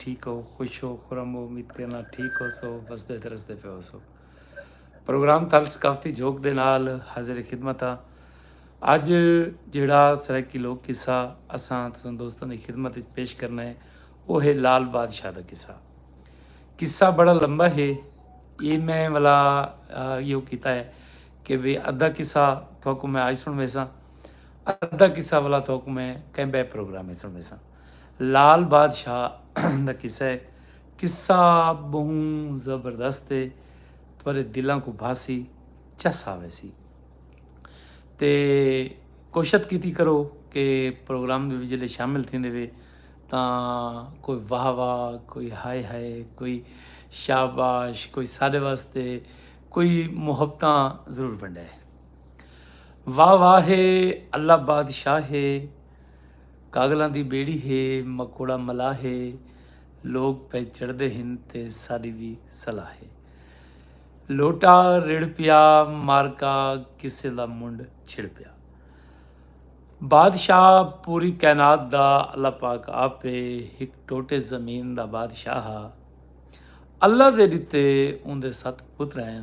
ٹھیک ہو خوش ہو خرم ہو امید کرنا ٹھیک ہو سو بسدے تے رسدے پہ ہو سو پروگرام تھل ثقافتی جھوک دے نال حاضر خدمت ہاں اج جڑا سرائیکی لوک قصہ اساں تساں دوستاں دی خدمت وچ پیش کرنا ہے وہ ہے لال بادشاہ دا قصہ قصہ بڑا لمبا ہے یہ میں والا یہ کیتا ہے کہ بھی ادھا قصہ تھوکو میں آج سن ویسا ادھا قصہ والا تھوکو میں کہیں بے پروگرام میں سن ویسا لال بادشاہ دا قصہ ہے۔ قصہ بہوں زبردست ہے تھوڑے دلاں کو بھاسی چس آوے سی تے کوشت کیتی کرو کہ پروگرام دے جلے شامل تھیں دے وے تاں کوئی واہ واہ کوئی ہائے ہائے کوئی شاباش کوئی سارے واسطے کوئی محبتاں ضرور بنڈے واہ واہ ہے اللہ بادشاہ ہے کاغلاں دی بیڑی ہے مکوڑا ملا ہے لوگ پہ چڑھدے ہن تے ساڈی وی صلاح ہے لوٹا رڑ پیا مارکا کسے دا منڈ چھڑ پیا بادشاہ پوری کائنات دا اللہ پاک آپ ہک ٹوٹے زمین دا بادشاہ ہا اللہ دے ڈتے اوندے ست پتر ہیں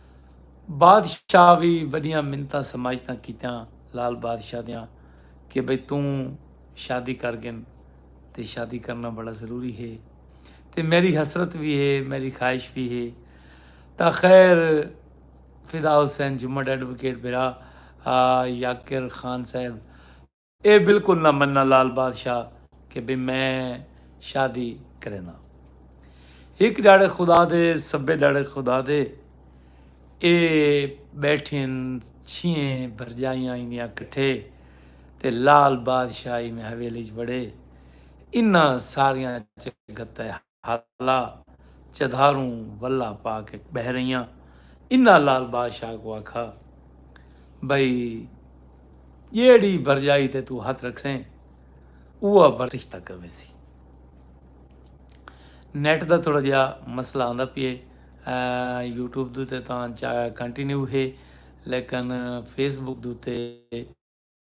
بادشاہ وی وڈیاں منتاں سماجتاں کیتیاں لال بادشاہ دیاں کہ بھئی توں شادی کر گن تے شادی کرنا بڑا ضروری ہے تے میری حسرت بھی ہے میری خواہش بھی ہے تا خیر فدا حسین جمعہ ایڈوکیٹ برا یاکر خان صاحب اے بالکل نہ مننا لال بادشاہ کہ بھئی میں شادی کرینا۔ ہک ڈاڑھے خدا دے سبھے ڈاڑھے خدا دے۔ اے بیٹھین چھیئیں بھرجائیاں ایندیاں کٹھے تے لال بادشاہ ای میں حویلی اچ وڑے انہاں ساریاں چ گھتہ ہالا چدھاروں ولا پاک اچ بہہ رہیاں انہاں لال بادشاہ کوں آکھا بھئی جیڑھی بھرجائی تے توں ہتھ رکھسیں اوہا بھر رشتہ کرویسی نیٹ دا تھوڑا جہا مسئلہ آندا پیے یوٹیوب دوتے تاں چا کنٹینیو ہے لیکن فیس بک دوتے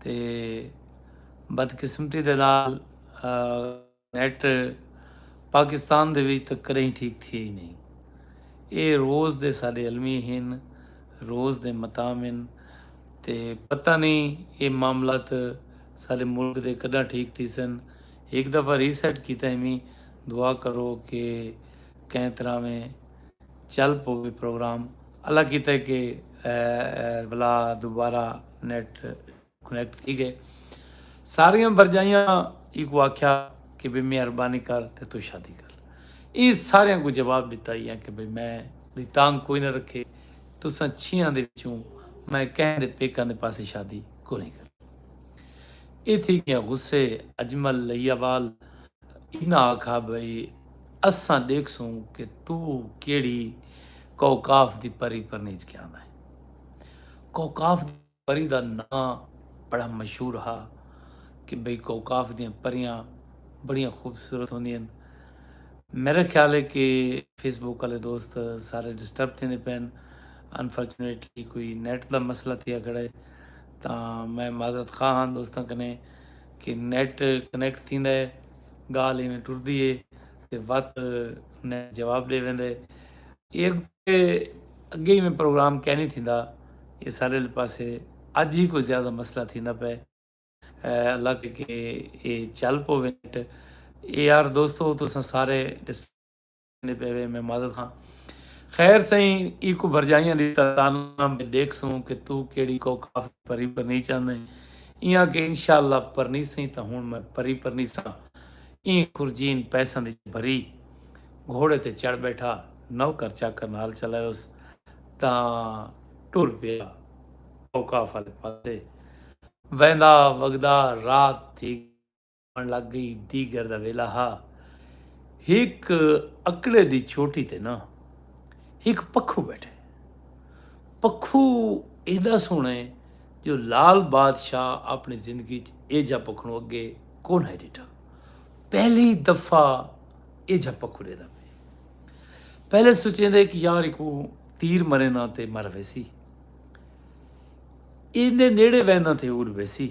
تے بدقسمتی دے نال نیٹ پاکستان دے وچ تک کریں ٹھیک تھی ہی نہیں اے روز دے ساڈے علمی ہن روز دے متام ہن تے پتہ نہیں اے معاملات ساڈے ملک دے کڈاں ٹھیک تھی سن ہک دفعہ ری سیٹ کیتا ہی میں دعا کرو کہ کہیں طرح میں چل پو وی پروگرام اللہ کیتا ہے کہ ولا دوبارہ نیٹ کنیکٹ تھی گئے ساریاں بھرجائیاں ایکوں آکھیا کہ بھئی مہربانی کر تے تو شادی کر لے ایں ساریاں کوں جواب ڈتا ہی ہے کہ بھئی میں دی تانگ کوئی نہ رکھے تساں چھیاں دے وچوں میں کہیں دے پیکاں دے پاسے شادی کونی کرنی اے تھی گیاں غصے اجمل لئیاوال انہاں آکھا بھئی اساں ڈیکھسوں کہ تو کیڑھی کوکاف دی پری پرنیج کے آندا ہے کوکاف دی پری دا ناں بڑا مشہور ہا کہ بھئی کوکاف دیاں پریاں بڑیاں خوبصورت ہوندین میرا خیال ہے کہ فیس بک والے دوست سارے ڈسٹرب تھیندے پین انفارچونیٹلی کوئی نیٹ دا مسئلہ تھیا کھڑا ہے تاں میں معذرت خواہ ہاں دوستاں کنے کہ نیٹ کنیکٹ تھیندا ہے گالھ ایویں ٹردی ہے تے وت نیٹ جواب ڈے ویندا ہے ایک تے اگے ایویں پروگرام کینی تھیندا یہ سارے پاسے اج ہی کوئی زیادہ مسئلہ تھیندا پے اللہ کے کہ یہ چل پو نیٹ اے یار دوستو تساں سارے دے پے وے میں معذرت خواں خیر سئیں ای کو بھرجائیاں دی تانا میں دیکھ سوں کہ تو کیڑی کو کاف پری پرنی چاہندے ایاں کہ انشاءاللہ پرنی سئیں تا ہن میں پری پرنی سا ای خرجین پیساں دی بھری گھوڑے تے چڑھ بیٹھا نوکر چاکر نال چلائیوس تا ٹر پیا کو کاف والے پاسے ویندا وگدا رات تھی آن لگ گئی دیگر دا ویلا ہا ہک اکڑے دی چھوٹی تے نا ہک پکھو بیٹھے پکھو ایڈا سونے جو لال بادشاہ اپنی زندگی اے جا پکھنو اگے کون ہے ڈیٹا پہلی دفعہ اے جا پکھو دے دا پہلے سوچیں دے کہ یار کو تیر مرے نہ تے مر ویسی اینے نیڑے وینا تھے اڑ ویسی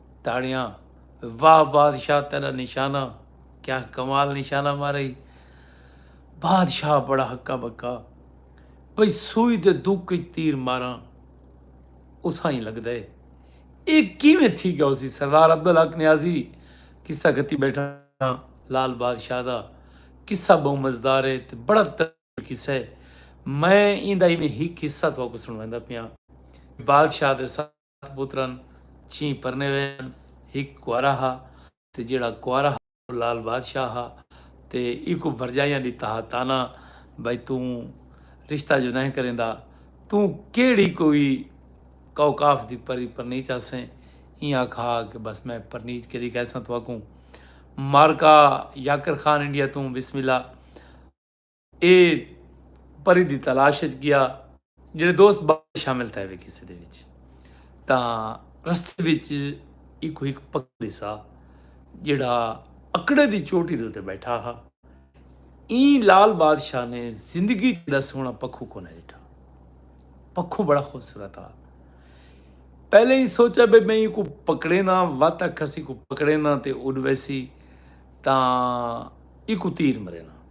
تاڑیاں واہ بادشاہ تیرا نشانہ کیا کمال نشانہ مارے بادشاہ بڑا ہکا بکا بھئی سوئی دے دک تیر ماراں اتھاں ہی لگدا ہے اے کیویں تھی گیا اسی سردار عبدالحق نیازی قصہ کتی بیٹھا ہاں لال بادشاہ دا قصہ بہوں مزدار ہے تے بڑا طویل قصہ ہے میں ایندا ایویں ہی قصہ تھوکو سنویندا پیاں بادشاہ دے ساتھ ست پتر ہن، چھی پرنیوے ہن، ہک کنوارا ہا تے جیہڑا کنوارا ہا او لعل بادشاہ ہا تے ایکوں بھرجائیاں ݙتا ہا طعنہ بھئی توں رشتہ جو نہہ کریندا توں کیہڑی کوئی کوکاف دی پری پرنیچ آسیں ایں آکھا ہا کہ بس میں پرنیچ کے ݙی کہساں تہاکوں مارکا یاکر خان انڈیا توں بسم اللہ اے پری دی تلاش اچ گیا جیڑھے دوست باقی شامل تھے وے کسے دے وچ تاں رستے وچ ایکو ہک پکھل دسا جیڑھا اکڑے دی چوٹی دے اتے بیٹھا ہا این لال بادشاہ نے زندگی دا سونا پکھو کو نہ ڈٹھا پکھو بڑا خوبصورت ہا پہلے ہی سوچا بے میں کو پکڑے نہ وات کسی کو پکڑے نہ تے اڈ ویسی تاں ایکو تیر مرے نہ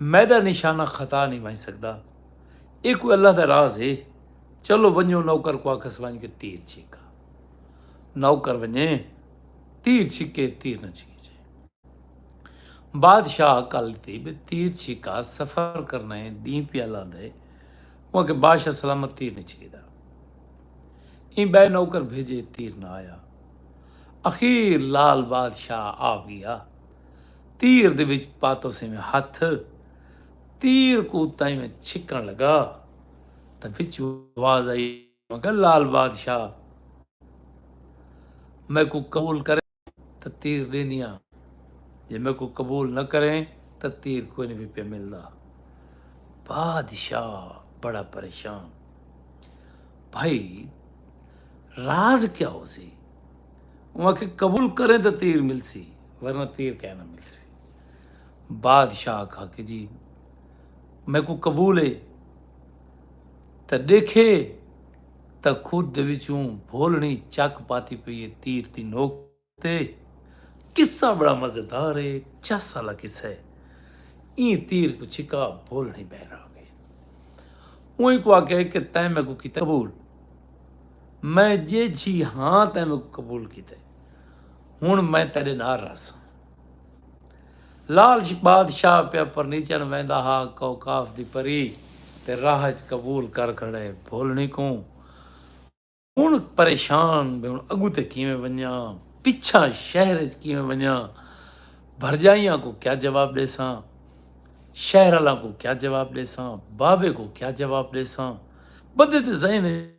میݙا نشانہ خطا نئیں ونڄ سڳدا۔ ایہ کوئی اللہ دا راز ہے۔ چلو ونڄو نوکر کوں آکھس ونڄ کے تیر چھک آ۔ نوکر ونڄے تیر چھکے تیر نہ چھکے چھے۔ بادشاہ کل تے بے تیر چھکا سفر کرنا ہے ݙینہہ پیا لاندا ہے۔ اوں آکھے بادشاہ سلامت تیر نئیں چھکیدا۔ ایں ٻئے نوکر بھیڄے تیر نہ آیا۔ اخیر لعل بادشاہ آ ڳیا۔ تیر دے وچ پاتو سی میں ہتھ تیر کو تائیں میں چھکن لگا تاں وچو آواز آئی مگر لال بادشاہ میں کو قبول کرے تاں تیر دیندیاں جے میں کو قبول نہ کریں تاں تیر کوئی نہیں بھی پہ ملدا بادشاہ بڑا پریشان بھائی راز کیا ہو سی انہوں آکھیا قبول کریں تاں تیر ملسی ورنہ تیر کہہ نہ ملسی بادشاہ آکھا کہ جی میں کو قبول ہے تاں دیکھے تاں خود دے وچوں بھولنی چک پاتی پئی ہے تیر دی نوک تے قصہ بڑا مزیدار ہے چس والا قصہ ہے این تیر کو چھکا بھولنی بہر آ گئی انہوں کو آکھیا کہ تیں میں کو کیتا قبول میں جیجھی ہاں تیں میکوں قبول کیتے ہن میں تیرے نال رہساں لال بادشاہ پیا پرنیچن ویندا ہا کوکاف دی پری تے راہ وچ قبول کر کھڑے بھولنی کوں ہن پریشان بھی ہن اگو تے کیویں ونجاں پچھا شہر وچ کیویں ونجاں بھرجائیاں کو کیا جواب ڈیساں شہر والاں کو کیا جواب ڈیساں بابے کو کیا جواب ڈیساں بدے تے ذہن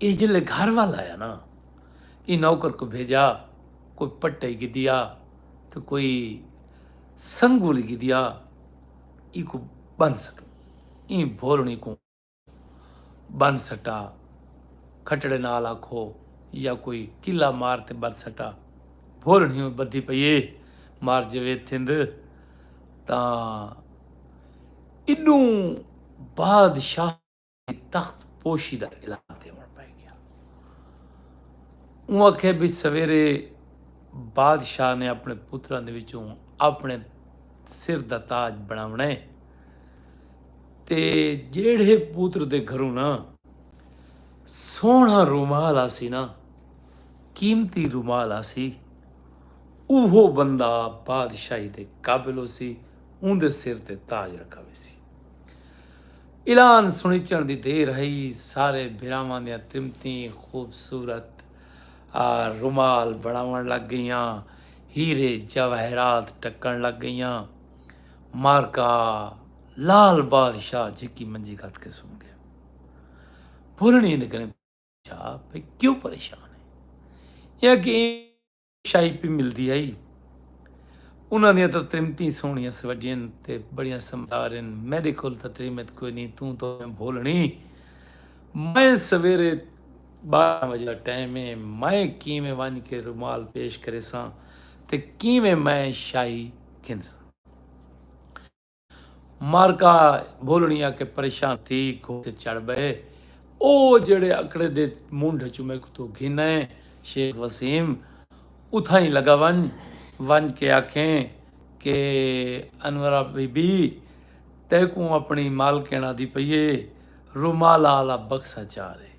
ایہ جلے گھر ول آیا نا ایں نوکر کوں بھیجا کوئی پٹئی گھدیا تے کوئی سنگولی گھدیا ایکوں بن سٹوں ایں بھولنی کوں بن سٹا کھٹڑے نال آکھو یا کوئی کلا مار تے بن سٹا بھولنی ہوئے بدھی پئیے مار جوید تھند تاں اڈوں بادشاہ تخت پوشی دا اعلان ڈیوݨ پئے گیا۔ اوں آکھیا بی سویرے بادشاہ نے اپݨے پتراں دے وچوں اپݨے سر دا تاج بݨاوݨا ہے تے جیڑھے پتر دے گھروں نا سوہݨا رومال آسی نا قیمتی رومال آسی اوہو بندہ بادشاہی دے قابل ہوسی اون دے سر تے تاج رکھا ویسی۔ اعلان سنیچن دی دیر ہئی سارے بھراواں دیاں ترمتیں خوبصورت رومال بنڑاونڑ لگ گئیاں ہیرے جواہرات ٹکن لگ گئیاں مارکا لال بادشاہ جھکی منجی گھت کے سن گیا بھولنی دے کنے پوچھا بھئی کیوں پریشان ہے یا کہ شاہی پی ملدی ہئی انہاں دیاں تاں تریمتیں سوہنیاں سوجھین تے بڑیاں سمدار ہن میڈے کول تاں تریمت کوئی نہیں توں تاں میں بھولنی میں سویرے بارہ وجہ دا ٹائم ہے میں کیویں ونج کے رومال پیش کریساں تے کیویں میں شاہی گھنساں معرکہ بھولنی آ کے پریشان تھی گھوڑے تے چڑھ بئے او جیڑھے اکڑے دے منڈھ اچوں میکوں تو گھن آئے شیخ وسیم اتھائیں لگا ونج ونج کے آکھیں کہ انورا بی بی تیکوں اپنی مالکن آدھی پئیے رومالا آلا بکسا چار ہے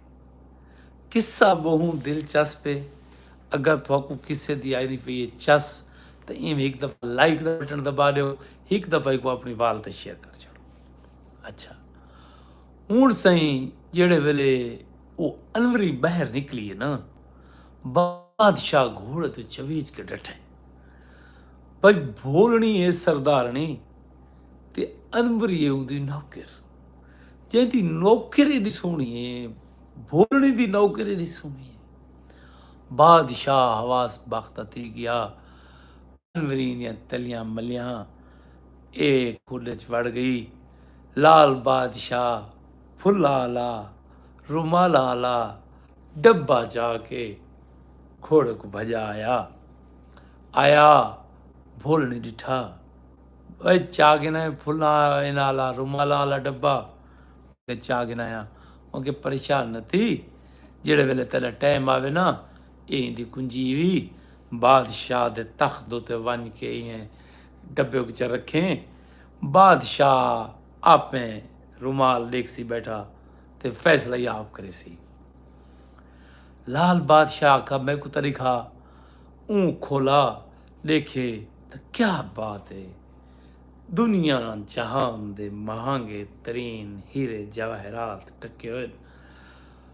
قصہ بہوں دلچسپ ہے اگر تھوکوں قصے دی آئی نہیں پئیے چس تے ایم ایک دفعہ لائک دا بٹن دبا دیو ہک دفعہ کو اپنی وال تے شیئر کر چھڑو اچھا ہوں سائیں جیڑے ویلے وہ انوری باہر نکلی ہے نا بادشاہ گھوڑے تو چویچ کے ڈٹھے بھائی بھولنی ہے سردارنی تے انوری ہے ان دی نوکر جن دی نوکر ایڈی سونی ہے بھولنی دی نوکر ایڈی سونی ہے بادشاہ حواس بخت تھی گیا انوریں دیاں تلیاں ملیاں اے کڈھ اچ وڑ گئی لال بادشاہ پھلاں آلا رومالاں آلا ڈبہ چا کے کھوڑے کو بھجا آیا آیا بھول نہیں ڈٹھا اے چا کے نہ پھلاں ان آلا رومالاں آلا ڈبہ چا کے نہ آیا ان کے پریشان نہ تھی جڑے ویلے تیرا ٹائم آوے نا ایں دی کنجی وی بادشاہ دے تخت اتے ونج کے ایں ڈبے وچ رکھیں۔ بادشاہ آپے رومال ڈیکھسی بیٹھا تے فیصلہ ہی آپ کریسی۔ لال بادشاہ آکھا میں کو طریقہ اوں کھولا ڈیکھے تے کیا بات ہے۔ دنیا جہان دے مہانگے ترین ہیرے جواہرات ٹکے ہوئے۔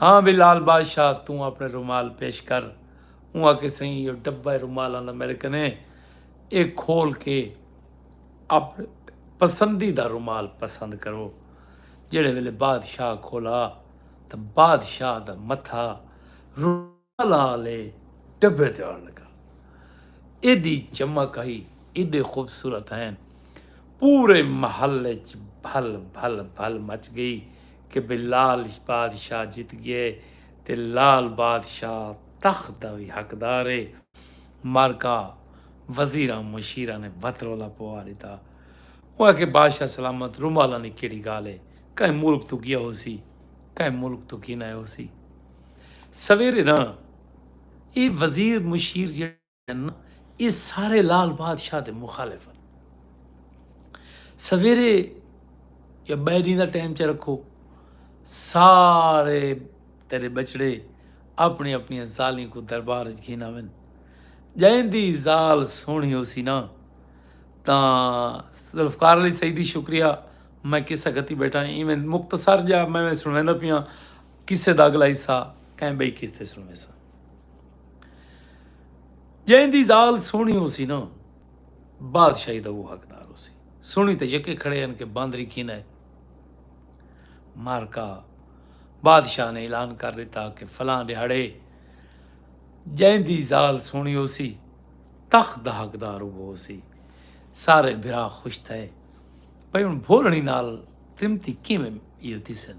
ہاں وی لال بادشاہ توں اپنے رومال پیش کر اوں آکھے سئیں ایو ڈبہ رومالاں دا میرے کنے اے کھول کے اپنے پسندیدہ رومال پسند کرو جیڑے ویلے بادشاہ کھولا تاں بادشاہ دا متھا تلا آلے ٹبے تے آن لگا۔ ایڈی چمک ہئی، ایڈے خوبصورت ہین۔ پورے محل اچ بھل بھل بھل مچ گئی کہ بھئی لال بادشاہ جت گئے تے لال بادشاہ تخت دا وی حقدار ہے۔ معرکہ وزیراں مشیراں نے بھت رولا پوا ڈتا۔ او آکھے بادشاہ سلامت رومالاں دی کیڈی گالھ ہے۔ کہیں ملک توں گیا ہوسی، کہیں ملک توں گھن آئے ہوسی۔ سویرے نا اے وزیر مشیر جیڑھے ہن نا اے سارے لال بادشاہ دے مخالف ہن سویرے یا بئے ڈینہ دا ٹائم چ رکھو سارے تیرے بچڑے اپنی اپنی زالیں کو دربار وچ گھن آون جائیں دی زال سونی ہو سی نا تا ذوالفقار علی سیدی شکریہ میں قصہ گھتی بیٹھا ایویں مختصر جا میں سنویندا پیاں قصے دا اگلا حصہ کہیں بئی قسط تے سنویساں۔ جئیں دی زال سوہنی ہوسی نا بادشاہی دا اوہ حقدار ہوسی۔ سوہنی تے یکے کھڑے ہن کہ باندری کھینا ہے۔ معرکہ بادشاہ نے اعلان کر ݙتا کہ فلاں ݙیہاڑے جئیں دی زال سوہنی ہوسی تخت دا حقدار اوہ ہوسی۔ سارے بھرا خوش تھئے۔ بھئی ہن بھولݨی نال ترمتی کیویں ایہو تھیسن۔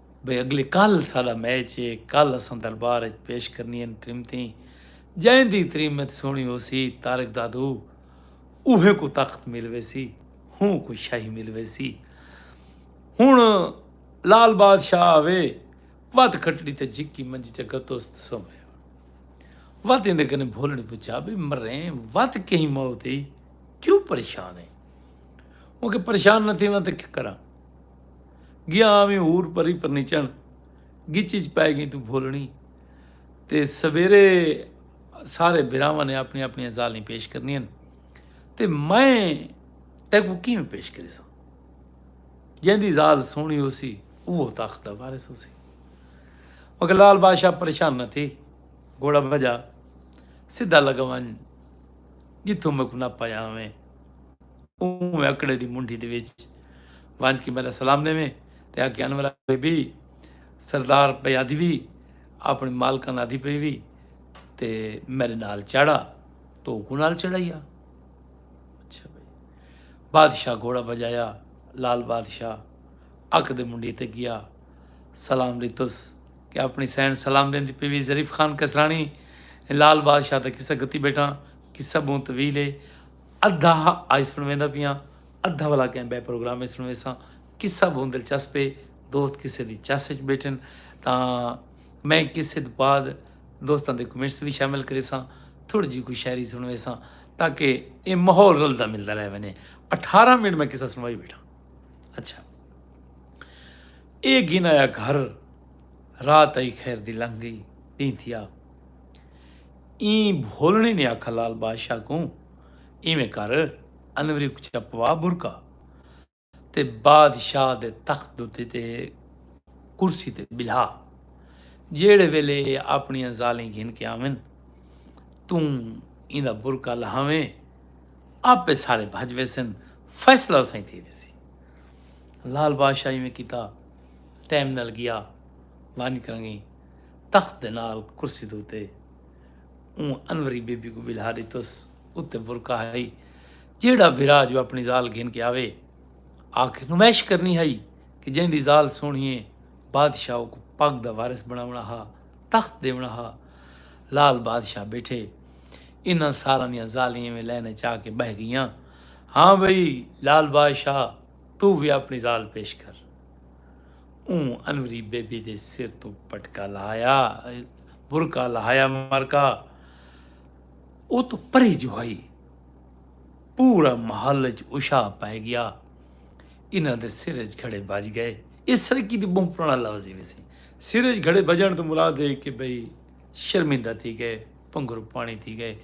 بھئی اگلے کل ساڈا میچ اے کل اساں دربار اچ پیش کرنیاں تریمتیں جیندی تریمت سوہنی ہوسی طارق دادو اوہیں کوں تخت مل ویسی ہوں کوں شاہی مل ویسی ہن لال بادشاہ آوے وت کھٹڑی تے جھکی منجی چ گتوس تے سو میا وت ایندے کنے بھولڑی پچھا بھی مریں وت کہیں موت ہی کیوں پریشان ہے ہوں کہ پریشان نہ تھیواں تے کیا کراں گیاں آویں حور پری پرنیچݨ گچ اچ پئے گئیں توں بھولݨی تے سویرے سارے بھراواں نے اپنی اپنی زالیں پیش کرنی ہن تے میں تیکو کیویں پیش کرے سا جیندی زال سونی ہو سی وہ تخت دا وارث ہو سی مگر لال بادشاہ پریشان نہ تھی گھوڑا بجا سیدھا لگا ون جتھوں میں کو نہ پایا میں اوویں اکڑے دی منڈھی دے وچ ونج کے میڈا سلام ڈیویں تے آکھے انورا بی بی سردار پئے آدھی وی اپنی مالکان آدھی پئے وی تے میڈے نال چڑھا تو اوکوں نال چڑھایا اچھا بھائی بادشاہ گھوڑا بجایا لال بادشاہ اک دے منڈی تے گیا سلام ڈیتس کہ اپنی سین سلام دین دی پیوی ظریف خان کسرانی لال بادشاہ دا قصہ گتی بیٹھا قصہ بہت طویل ہے ادھا آئی سن ویندا پیاں ادھا والا کہیں بے پروگرام میں سن ویساں قصہ بہت دلچسپ ہے دوست کسے دی چس وچ بیٹھن تاں میں کسے دے بعد دوستاں دے کمنٹس بھی شامل کرے ساں تھوڑی جی کوئی شاعری سن ویساں تاکہ اے ماحول رلدا ملدا رہ ونے اٹھارہ منٹ میں قصہ سنوائی بیٹھا اچھا اے گن آیا گھر رات آئی خیر دی لنگ گئی دین تھیا ایں بھولڑیں نے آکھا لال بادشاہ کوں ایویں کر انوری کوں چھپوا برقع تے بادشاہ دے تخت اتے تے کرسی تے بلھا جیڑھے ویلے اے اپنیاں زالیں گھن کے آون توں ایندا برقع لہاویں آپے سارے بھج ویسن فیصلہ اتھائیں تھی ویسی لال بادشاہ ایویں کیتا ٹائم نال گیا ونج کرنگیں تخت دے نال کرسی دے اتے اوں انوری بی بی کوں بلہا ڈتس اتے برکا ہئی جیڑا بھرا جو اپنی زال گھن کے آوے آکھے نمائش کرنی ہئی کہ جیں دی زال سونہی ہے بادشاہ اوکوں پگ دا وارث بناونا ہا تخت دیونا ہا لال بادشاہ بیٹھے انہاں ساراں دیاں زالیں ایویں لین اچ آ کے بہہ گئیاں ہاں بھئی لال بادشاہ تو بھی اپنی زال پیش کر اوں انوری بے بی دے سر توں پٹکا لہایا برقع لہایا مرکا ات پری جو ہائی پورا محل اچ اشا پائے گیا انہاں دے سر اچ گھڑے بج گئے اس سرکی دی بہت پرانا لفظ ہی ویسی سر اچ گھڑے بجن تو مراد ہے کہ بھئی شرمندہ تھی گئے پنگر پانی تھی گئے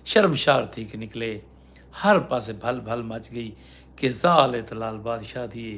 شرمشار تھی کے نکلے ہر پاسے بھل بھل مچ گئی کہ زال اتلال بادشاہ تھی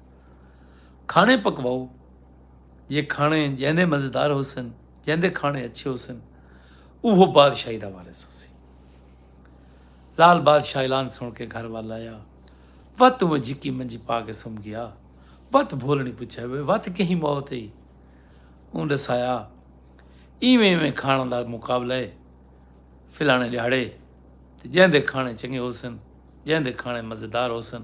کھاݨے پکواؤ جے کھاݨے جیندے مزیدار ہوسن جیندے کھاݨے اچھے ہوسن اوہو بادشاہی دا وارث ہوسی لال بادشاہ اعلان سن کے گھر وال آیا وت وہ جھکی منجی پا کے سم گیا وت بھولنی پچھا ہوئے وت کہیں موت ہی اون ڈسایا ایویں ایویں کھانا دا مقابلہ ہے فلانے دیہڑے جیندے کھانے چنگے ہوسن جیندے کھانے مزیدار ہوسن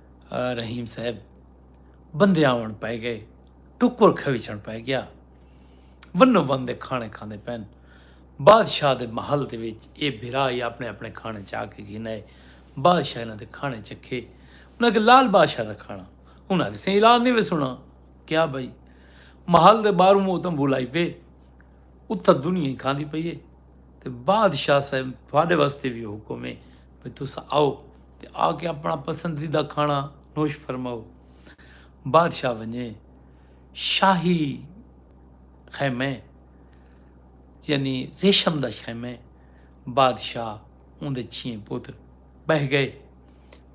رحیم صاحب بندے آون پائے گئے ٹکر کھویچن پائے گیا ونو ون دے کھانے کھاندے پین بادشاہ دے محل دے وچ اے بھرا ہی اپنے اپنے کھانے چا کے گھن آئے بادشاہ انہاں دے کھانے چکھے انہاں کے لال بادشاہ دا کھانا انہاں کے سین اعلان نہیں وے سنا کیا بھائی محل دے باہروں وہ تم بلائی پے اتھا دنیا ہی کھاندی پئی ہے تے بادشاہ صاحب تھوڑے واسطے بھی حکم ہے بھئی تساں آؤ تے آ کے اپݨا پسندیدہ کھاݨا نوش فرماؤ۔ بادشاہ ونڄے شاہی خیمے یعنی ریشم دا خیمے بادشاہ اوندے چھیں پتر ٻہہ ڳئے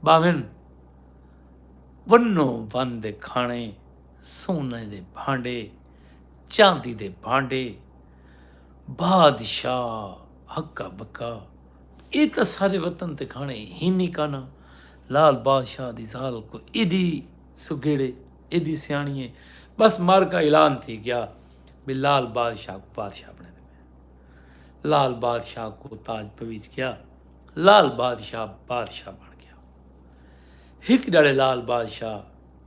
ٻاہون ونو ون دے کھاݨے سونے دے بھانڈے چاندی دے بھانڈے بادشاہ ہکا ٻکا اے تاں سارے وطن تے کھاݨے ہینی کانا لال بادشاہ دی ذال کوئی ایڈی سگھیڑے ایڈی سیاݨی اے بس مر کا اعلان تھی گیا بے لال بادشاہ کو بادشاہ بنے دے پے لال بادشاہ کو تاج پویچ گیا لال بادشاہ بادشاہ بن گیا ہک ڈڑے لال بادشاہ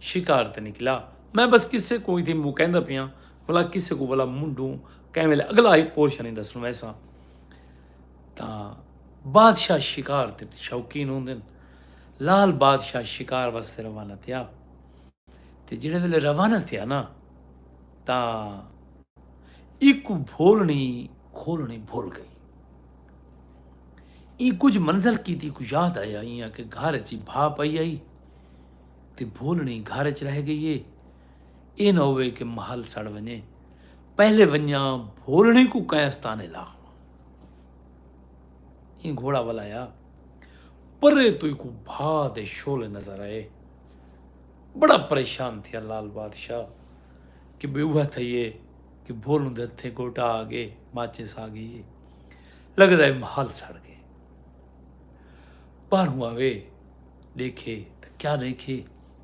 شکار تے نکلا میں بس کسے کو ایدھی موکین دا پیاں بلا کسے کو بلا منڈوں کیمل اگلا ہی پورشن ہی دسنو ایسا تاں بادشاہ شکار تے شوقین ہوندن لال بادشاہ شکار واسطے روانہ تھیا تے جڑے ویلے روانہ تھیا نا تاں ایک بھولنی کھولنی بھول گئی ای کچھ منزل کی تھی کچھ یاد آیا ہی کہ گھر چی بھا پائی آئی تے بھولنی گھر چ رہ گئی ہے اے نہ ہووے کہ محل سڑ ونجے پہلے ونجاں بھولڑیں کوں کینس تانے لا ہوں ایں گھوڑا ولایا پرے تو کو بھا دے شولے نظر آئے بڑا پریشان تھیا لال بادشاہ کہ بے اوہ تھئیے کہ بھولوں دے ہتھے گوٹا آ گئے ماچے سا گئی لگدا ہے محل سڑ گئے باہروں آوے دیکھے تو کیا دیکھے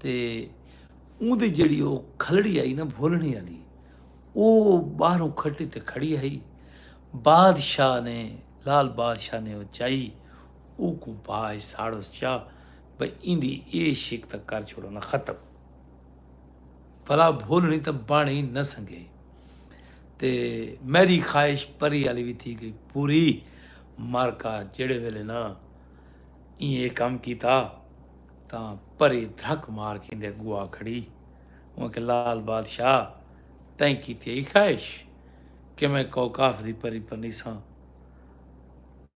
تے اوں دی جیڑھی او کھلڑی آئی نا بھولنی آلی او باہروں کھٹی تے کھڑی آئی بادشاہ نے لال بادشاہ نے او چائی او کو پاج ساڑو چا بھئی این دی اے شک تک کر چھوڑو نا ختم بھلا بھولنی تے بانی نہ سنگے تے میری خواہش پری آلی بھی تھی گئی پوری مارکا جڑے ویلے نا این اے کام کیتا تاں پری دھک مار کھیندے گوا کھڑی۔ اوں آکھیا لال بادشاہ تئیں کیتی ہئی خواہش کہ میں کوکاف دی پری بنیساں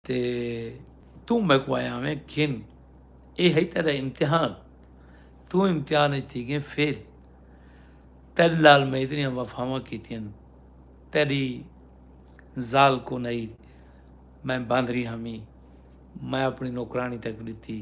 تے توں میکوں آیا آویں گھن اے ہئی تیڈا امتحان توں امتحان اچ تھی گئیں فیل تیڈے نال میں اتنیاں وفاواں کیتیاں تیڈی زال کو نئی میں باندری ہمی میں اپنی نوکرانی تک ڈتی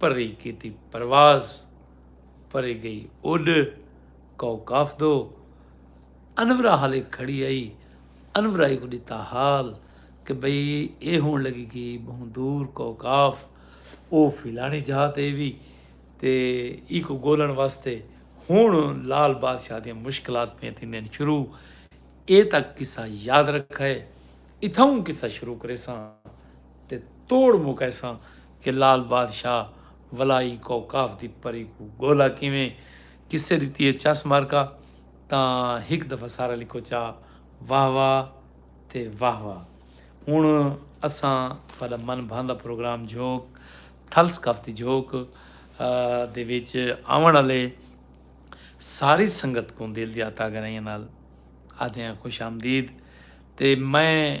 پری کیتی پرواز پری گئی اڈ کوکاف دو انورا حالے کھڑی آئی انورا کو ڈتا حال کہ بھئی اے ہون لگی کی بہوں دور کوکاف او فلانی جہاں تے وی تے ای کو گولن واسطے ہون لال بادشاہ دی مشکلات پہ تھیندین شروع اے تک قصہ یاد رکھے اتھاؤں قصہ شروع کریساں تے توڑ مکیساں کہ لال بادشاہ ولائی کوں کاف دی پری کوں گولا کیویں قصے ڈتی ہے چس مارکا تاں ہک دفعہ سارا لکھو چا واہ واہ تے واہ واہ ہن اساں تہاڈا من بھاندا پروگرام جھوک تھل ثقافتی جھوک دے وچ آون والے ساری سنگت کوں دل دی آتاگرائیاں نال آدھیاں خوش آمدید تے میں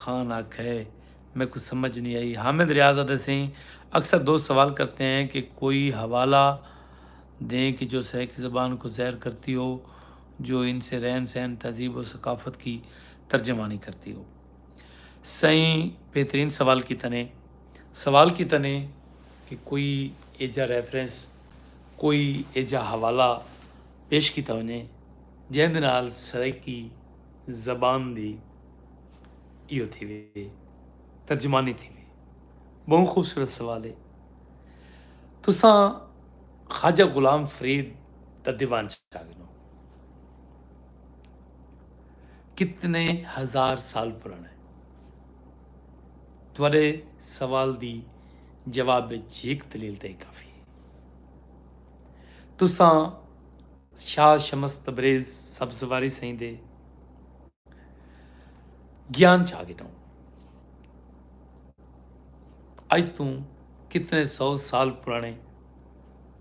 خان آکھے میکوں سمجھ نی آئی۔ حامد ریاض آدھے سئیں اکثر دوست سوال کرتے ہیں کہ کوئی حوالہ دیں کہ جو سرائیکی زبان کو ظاہر کرتی ہو جو ان سے رہن سہن تہذیب و ثقافت کی ترجمانی کرتی ہو۔ سئیں بہترین سوال کیتے نے۔ سوال کیتے نے کہ کوئی ایجھا ریفرنس کوئی ایجھا حوالہ پیش کیتا ونجے جیندے نال سرائیکی زبان دی۔ ایو تھی وی ترجمانی تھی وی بہوں خوبصورت سوال ہے تساں خواجہ غلام فرید دا دیوان چاہ گنو کتنے ہزار سال پرانا ہے تھوڑے سوال دی جواب جیک دلیل تے کافی ہے تساں شاہ شمس تبریز سبزواری سائیں دے گیان چھا گے ٹاؤں اج توں کتنے سو سال پرانے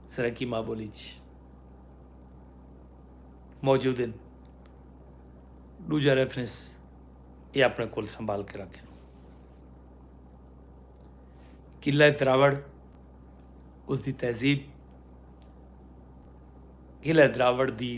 سرکی ماں بولی چ موجود ہیں دوجا ریفرنس یہ اپنے کول سنبھال کے رکھیں قلعہ دراوڑ اس دی تہذیب قلعہ دراوڑ دی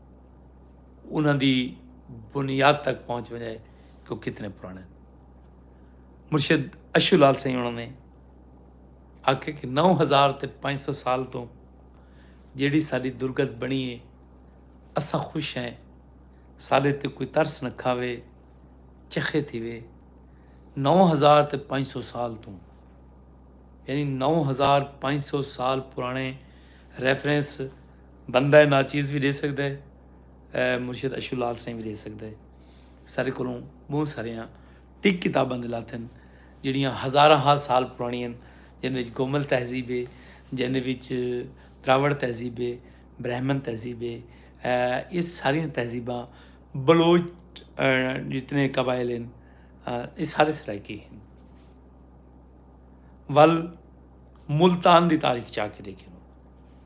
انہوں دی بنیاد تک پہنچ وجائے کہ وہ کتنے پرانے مرشد اشو لال سائیں انہوں نے آخ کہ نو ہزار تے پانچ سو سال تو جیڑی ساری درگت بنی ہے اسا خوش ہیں سارے تے کوئی ترس نہ کھاوے چخے تھی وے نو ہزار تے پانچ سو سال تو یعنی نو ہزار پانچ سو سال پرانے ریفرنس بندہ اے ناچیز وی ڈے سگدا اے اے مرشد اشو لال سائیں وی ڈے سگدا اے سارے کولوں بہت ساریاں ٹک کتاباں دے لاتن جڑیاں ہزاراں ہا سال پرانیاں جیندے وچ گومل تہذیب اے جیندے وچ دراوڑ تہذیب اے برہمن تہذیب اے اے ساریاں تہذیباں بلوچ جتنے قبائل ہیں اے سارے سرائیکی ہیں ول ملتان دی تاریخ چا کے دیکھیں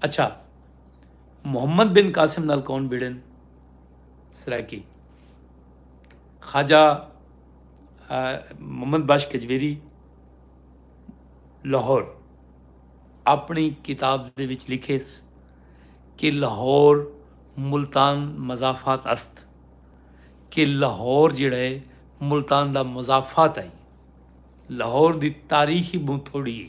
اچھا محمد بن قاسم نال کون بھیڑن سرائیکی خواجہ محمد بخش کجویری لاہور اپنی کتاب دے وچ لکھے کہ لاہور ملتان مضافات است کہ لاہور جڑا ہے ملتان دا مضافات آئی لاہور دی تاریخی بہت تھوڑی ہے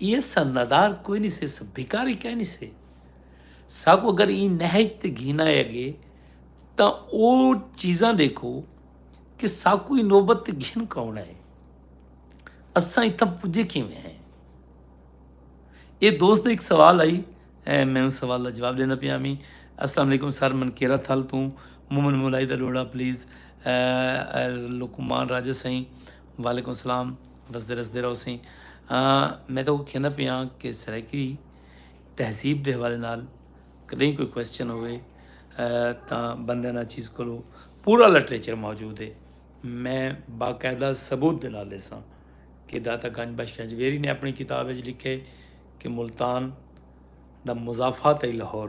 ایہ سا ندار کوئی نی سے سا بھکاری کائے نی سے ساکو اگر ایں نہج تے گھن آیا گے تاں او چیزاں ڈیکھو کہ ساکو ایں نوبت تے گھن کون آئے اساں اتھاں پجے کیویں ہیں اے دوست نے ایک سوال آئی اے میں اس سوال دا جواب دینا پیا میں السلام علیکم سر من کیرا تھل توں مومن مولائی دا لوڑا پلیز لکمان راجہ سائیں وعلیکم السلام وسدے رسدے رہو سئیں میں تو کہنا پیا کہ سرائیکی تہذیب دے حوالے نال کدیں کوئی کوشچن ہوئے تا بندے نا چیز کو پورا لٹریچر موجود ہے میں باقاعدہ ثبوت دے نال سا کہ داتا گنج بخش گجویری نے اپنی کتاب اچ لکھے کہ ملتان دا مضافات لاہور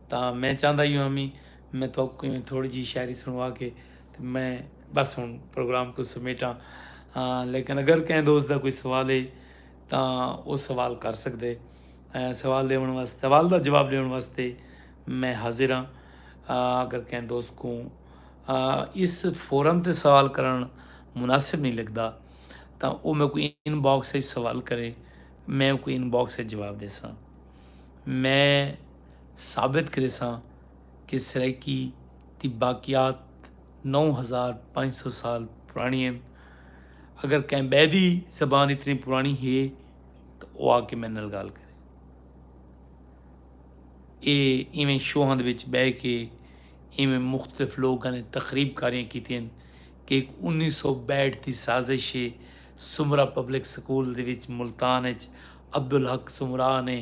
تاں میں چاہندا ایہو ہاں وی میں تہاکوں ایویں تھوڑی جیہی شاعری سنوا کے تے میں بس ہن پروگرام کوں سمیٹاں لیکن اگر کہیں دوست دا کوئی سوال ہے تاں او سوال کر سکدے سوال ݙیوݨ واسطے سوال دا جواب ݙیوݨ واسطے میں حاضر ہاں اگر کہیں دوست کوں اس فورم تے سوال کرݨ مناسب نہیں لڳدا تاں او میکوں ان باکس وچ سوال کرے میں اوکوں ان باکس وچ جواب ݙیساں میں ثابت کریساں کہ سرائیکی دی باقیات نو ہزار پنج سو سال پرانی ہن اگر کہیں بے دی زبان اتنی پرانی ہے تو وہ آ کے میرے نال گال کرے اے ایویں شوہاں دے وچ بہ کے ایویں مختلف لوگوں نے تقریب کاریاں کیتی ہیں کہ ایک انیس سو بیٹھ دی سازش ہے سمرا پبلک سکول دے وچ ملتان وچ عبدالحق سمرا نے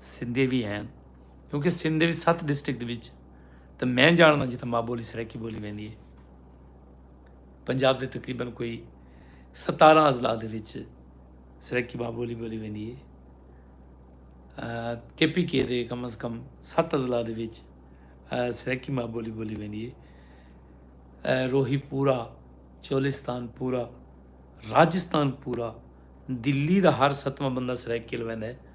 سندھے بھی ہیں کیونکہ سندھ بھی ست ڈسٹرکٹ وچ تو میں جاننا جتنا ماں بولی سرکی بولی ویندی ہے پنجاب دے تقریباً کوئی ستارہ اضلاع دے وچ سرکی ماں بولی بولی ویندی ہے کے پی کے دے کم از کم ست اضلاع دے وچ سرکی ماں بولی بولی ویندی ہے روہی پورا چولستان پورا راجستان پورا دلی دا ہر ستواں بندہ سرائیکل ویندا ہے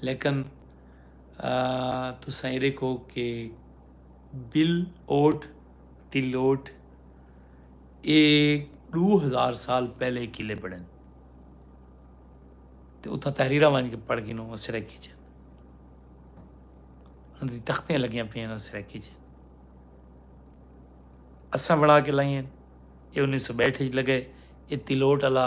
لیکن تساں اے ڈیکھو کہ بل اوٹ تی لوٹ اے ڈو ہزار سال پہلے کلے بنڑن تے اتھاں تحریراں ونج کے پڑھ گھنو سرائیکی چ اندی تختیاں لگیاں پیاں نو سرائیکی چ اساں بنا کے لائیں اے انیس سو بہٹھ وچ لگے اے تلوٹ والا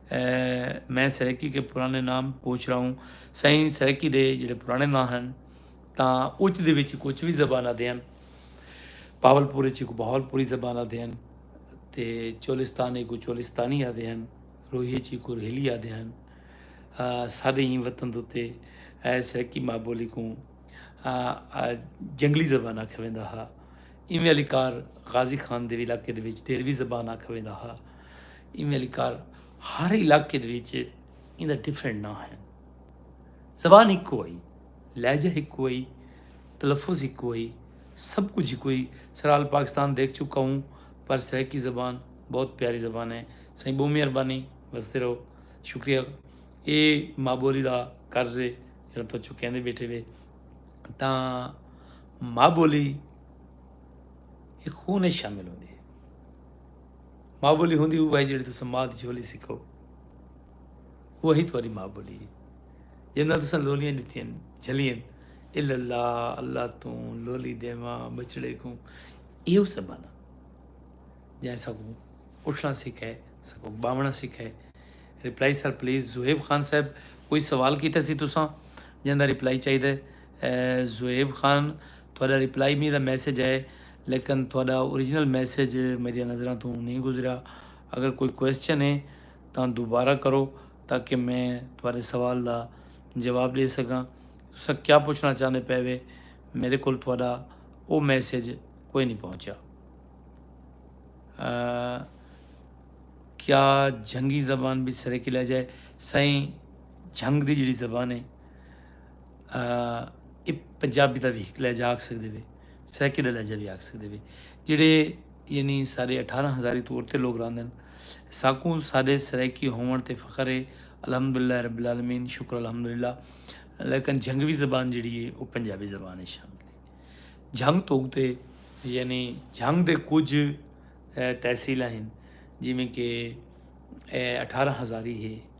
میں سرکی کے پرانے نام پوچھ رہا ہوں سائیں سرکی دے جڑے پرانے نام ہیں تا اچ دے وچ کچھ بھی زبانہ دے ہیں پاول پوری چی کو بہول پوری زبانہ دے ہیں تے چولستانی کو چولستانی آدھے ہیں روہی چی کو روہیلی آدھے ہیں سارے ہی وطن دوتے اے سرکی ماں بولی کو جنگلی زبانہ کھویں دا ہا ایمی علی کار غازی خان دے علاقے دے وچ دیروی زبانہ کھویں دا ہا ایویں علی کار ہر علاقے دے وچ ایندا ڈیفرنٹ نہ ہے زبان ہک ہوئی لہجہ ہک ہوئی تلفظ ہک ہوئی سب کچھ ہک ہوئی سرال پاکستان دیکھ چکا ہوں پر سرائیکی زبان بہت پیاری زبان ہے سائیں بہت مہربانی وستے رہو شکریہ اے ماں بولی دا قرض ہے جڑا تو چکے دے بیٹھے وے تاں ماں بولی ایک خون شامل ہوندی ہے ماء بولی ہوندی اوہی جیڑھی تساں ماء دی جھولی سکھو اوہی تہاڈی ماء بولی ہے جنہاں تساں لولیاں ڈتیاں جھلیاں الا اللہ اللہ توں لولی دیواں بچڑے کوں ایہو زمانہ جائیں سکوں اٹھنا سکھائے سکوں باونا سکھائے reply sir please Zohaib Khan صاحب کوئی سوال کیتا سی تساں جہاں دا رپلائی چاہیے زہیب خان تہاڈا رپلائی میرا میسج ہے لیکن تہاڈا اوریجنل میسج میڈیا نظراں توں نہیں گزریا اگر کوئی کوسچن ہے تاں دوبارہ کرو تاکہ میں تہاڈے سوال دا جواب ڈے سکاں تساں کیا پوچھنا چاہندے پے وے میرے کول تہاڈا او میسج کوئی نہیں پہنچیا کیا جھنگی زبان بھی سرے کی لہجہ ہے سائیں جھنگ دی جڑی زبان ہے اے پنجابی دا وی ہک لہجہ آکھ سکدے وے سرائیکی دا لہجہ وی آکھ سکدے وے جڑے یعنی سارے اٹھارہ ہزاری تو ارتے لوگ راندن ساکوں سارے سرائیکی ہون تے فخر ہے الحمدللہ رب العالمین شکر الحمدللہ لیکن جھنگوی زبان جڑی ہے او پنجابی زبان ہے شامل ہے جھنگ تو تے یعنی جھنگ دے کچھ تحصیلہ ہیں جی میں کہ اٹھارہ ہزاری ہے